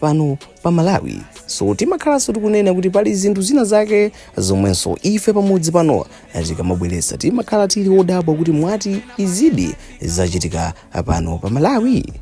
pano pa malawi so timakhalanso tikunena kuti pali zinthu zina zake zomwenso ife pamudzi pano tikamabweretsa timakhala tili odabwa kuti mwati izidi zachitika pano pa malawi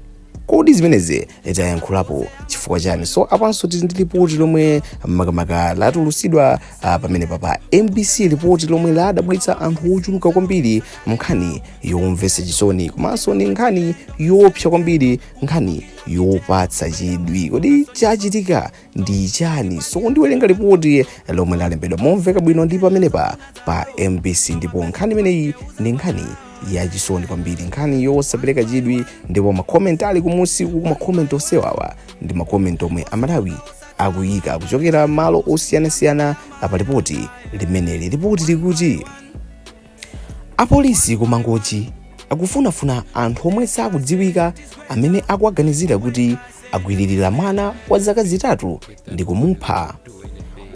kodi zimenezi tayankhulapo chifukwa chani so apanso tili ndi lipoti lomwe makamaka latulusidwa ah, pamenepa pa mbc lipoti lomwe ladabwitsa anthu ochuluka kwambiri nkhani yomvetsa chisoni komanso ni nkhani yoopsa kwambiri nkhani yopatsa chidwi kodi chachitika ndi chani so ndiwerenga lipoti lomwe lalembedwa momveka bwino ndi pamenepa pa mbc ndipo nkhani imeneyi ndi nkhani yachisoni kwambiri nkhani yosapereka chidwi ndipo makomenti ali kumusiku makomenti onsewawa ndi makomenti omwe amalawi akuyika kuchokera malo osiyanasiyana pa lipoti limeneli lipoti likuti Apolisi ku Mangochi akufunafuna anthu omwe sakudziwika amene akuwaganizira kuti agwiririra mwana wa zaka zitatu ndi kumupha.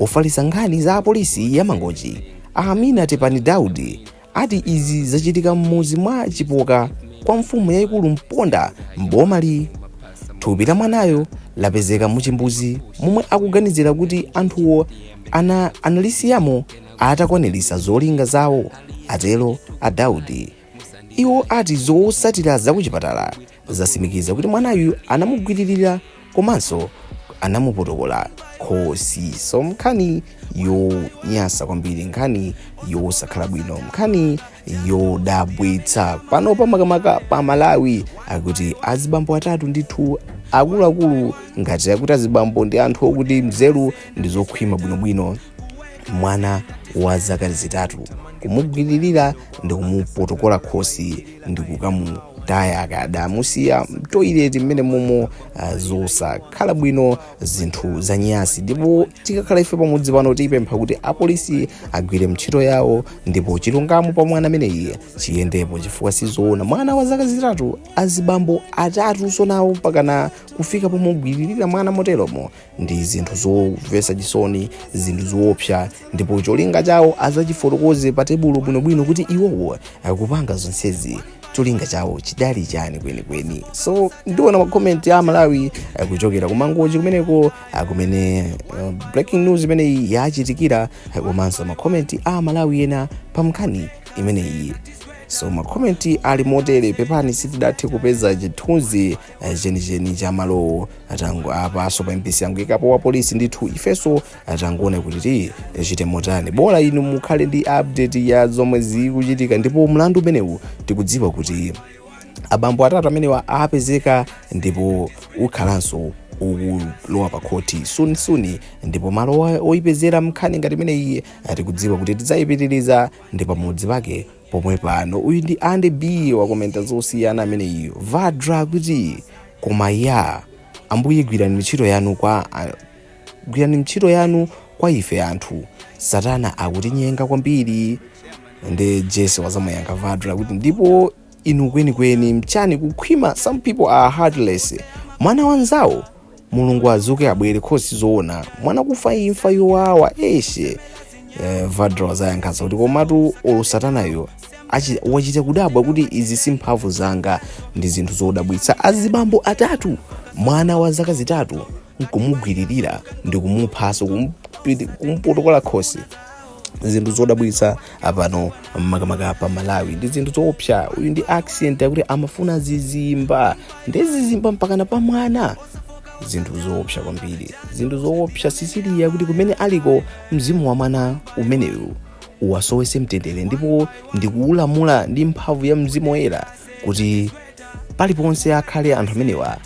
Ofalitsa nkhani za apolisi ya Mangochi, a Amina Tepani Daudi, ati izi zachitika m'mudzi mwa Chipoka kwa mfumu yayikulu Mponda m'bomali. Thupi la mwanayo lapezeka mu chimbudzi momwe akuganizira kuti anthuwo ana, analisiyamo atakwanilisa zolinga zawo, atelo a Daudi. Iwo ati zotsatila za kuchipatala zasimikiza kuti mwanayu anamugwililila komanso anamupotokola khosi so nkhani yonyasa kwambiri nkhani yosakhala bwino nkhani yodabwitsa pano pa makamaka pa malawi akuti azibambo atatu ndithu akuluakulu ngati akuti azibambo ndi anthu okuti nzeru ndi zokhwima bwinobwino mwana wa zaka zitatu kumugwiririra ndi kumupotokola khosi ndi kukamutaya akadamusiya mtoileti mmenemomo ah, zosakhala bwino zinthu zanyasi ndipo tikakhala ife pamudzi pano tipempha kuti apolisi agwire ntchito yawo ndipo chilungamo pa mwana ameneyi chiyendepo chifukwa sizoona mwana wa zaka zitatu azibambo atatu zoona mpakana kufika pomugwiririra mwana moteromo ndi zinthu zomvetsa chisoni zinthu zoopsa ndipo cholinga chawo azachifotokoze pa tebulo bwinobwino kuti iwowo akupanga zonsezi cholinga chawo chidali chani kwenikweni so ndiona makomenti amalawi eh, kuchokera ku mangochi kumeneko ah, kumene eh, breaking news imeneyi yachitikira eh, komanso makomenti amalawi ena pa nkhani imeneyi so makomenti ali motere pepani sitidathe kupeza chithunzi eh, chenicheni cha malowo apaso pa mbc angoikapo wa polisi ndithu ifeso tangoona kuti ti tichite motani bola inu mukhale ndi update ya zomwe zikuchitika ndipo mlandu umenewu tikudziwa kuti abambo atatu amenewa apezeka ndipo ukhalanso ukulowa pa khoti sunisuni ndipo malo oipezera nkhani ngati imeneyi tikudziwa kuti tidzayipitiriza ndi pamudzi pake pomwe pano uyu ndi andy b wakomenta zosiyana amene uyu vadra kuti koma ya ambuye gwirani ntchito yanu kwa a- gwirani ntchito yanu kwa ife anthu satana akutinyenga kwambiri ende jesi wazamuyankha vadra kuti ndipo inu kwenikweni mchani kukhwima some people are heartless mwana wanzawo mulungu azuke abwere khosi zoona mwana kufa imfa yowawa eshe eh, vadra wazayankhaso kuti komatu olo satanayo achi- wachita kudabwa kuti izi si mphamvu zanga ndi zinthu zodabwitsa azibambo atatu mwana wa zaka zitatu nkumugwiririra ndi kumuphaso kumpotokola khosi zinthu zodabwitsa apano makamaka pa malawi ndi zinthu zoopsa uyu ndi accent yakuti amafuna zizimba ndi zizimba mpakana pa mwana zinthu zoopsa kwambiri zinthu zoopsa sisiliya kuti kumene aliko mzimu wa mwana umenewu uwasowese mtendere ndipo ndikuulamula ndi mphamvu ya mzimu woyera kuti paliponse akhale anthu amenewa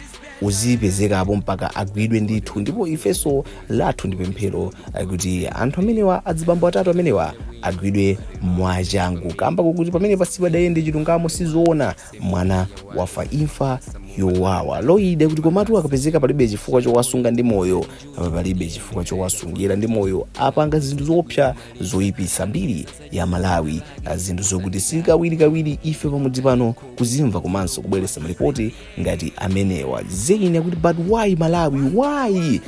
uzipezekapo mpaka agwidwe ndithu ndipo ifeso lathu ndi pemphero eh, kuti anthu amenewa adzibambo atatu amenewa agwidwe mwachangu kamba kokuti pamene pasipadayende chilungamo sizoona mwana wafa imfa yowawa loyidi kuti komatu akapezeka palibe chifukwa chowasunga ndi moyo apa palibe chifukwa chowasungira ndi moyo apanga zinthu zoopsa zoyipitsa mbiri ya malawi ah, zinthu zokuti si kawirikawiri ife pamudzi pano kuzimva komanso kubweretsa malipoti ngati amenewa zain akuti but why malawi why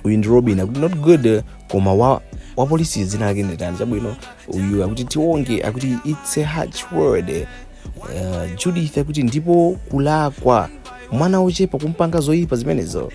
uyu ndi robin akuti not good eh, koma wa wapolisi dzina lake nditani chabwino uyu akuti tionge akuti its a harsh world eh, eh, judith akuti ndipo kulakwa mwana wochepa kumpanga zoyipa zimenezo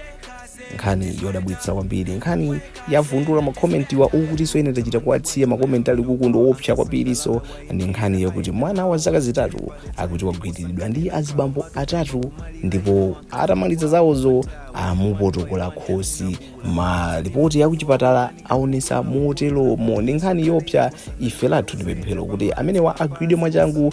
nkhani yodabwitsa kwambiri nkhani yavundula makomentiwa okutiso ine tachita kuwasiya makomenti ali kukundu oopsa kwambiriso ndi nkhani yakuti mwana wa zaka zitatu akuti wagwiriridwa ndi azibambo atatu ndipo atamaliza zawozo amupotokola khosi malipoti yakuchipatala aonesa motelomo ndi nkhani yopsa ife lathu ndi pemphero kuti amenewa agwidwe mwachangu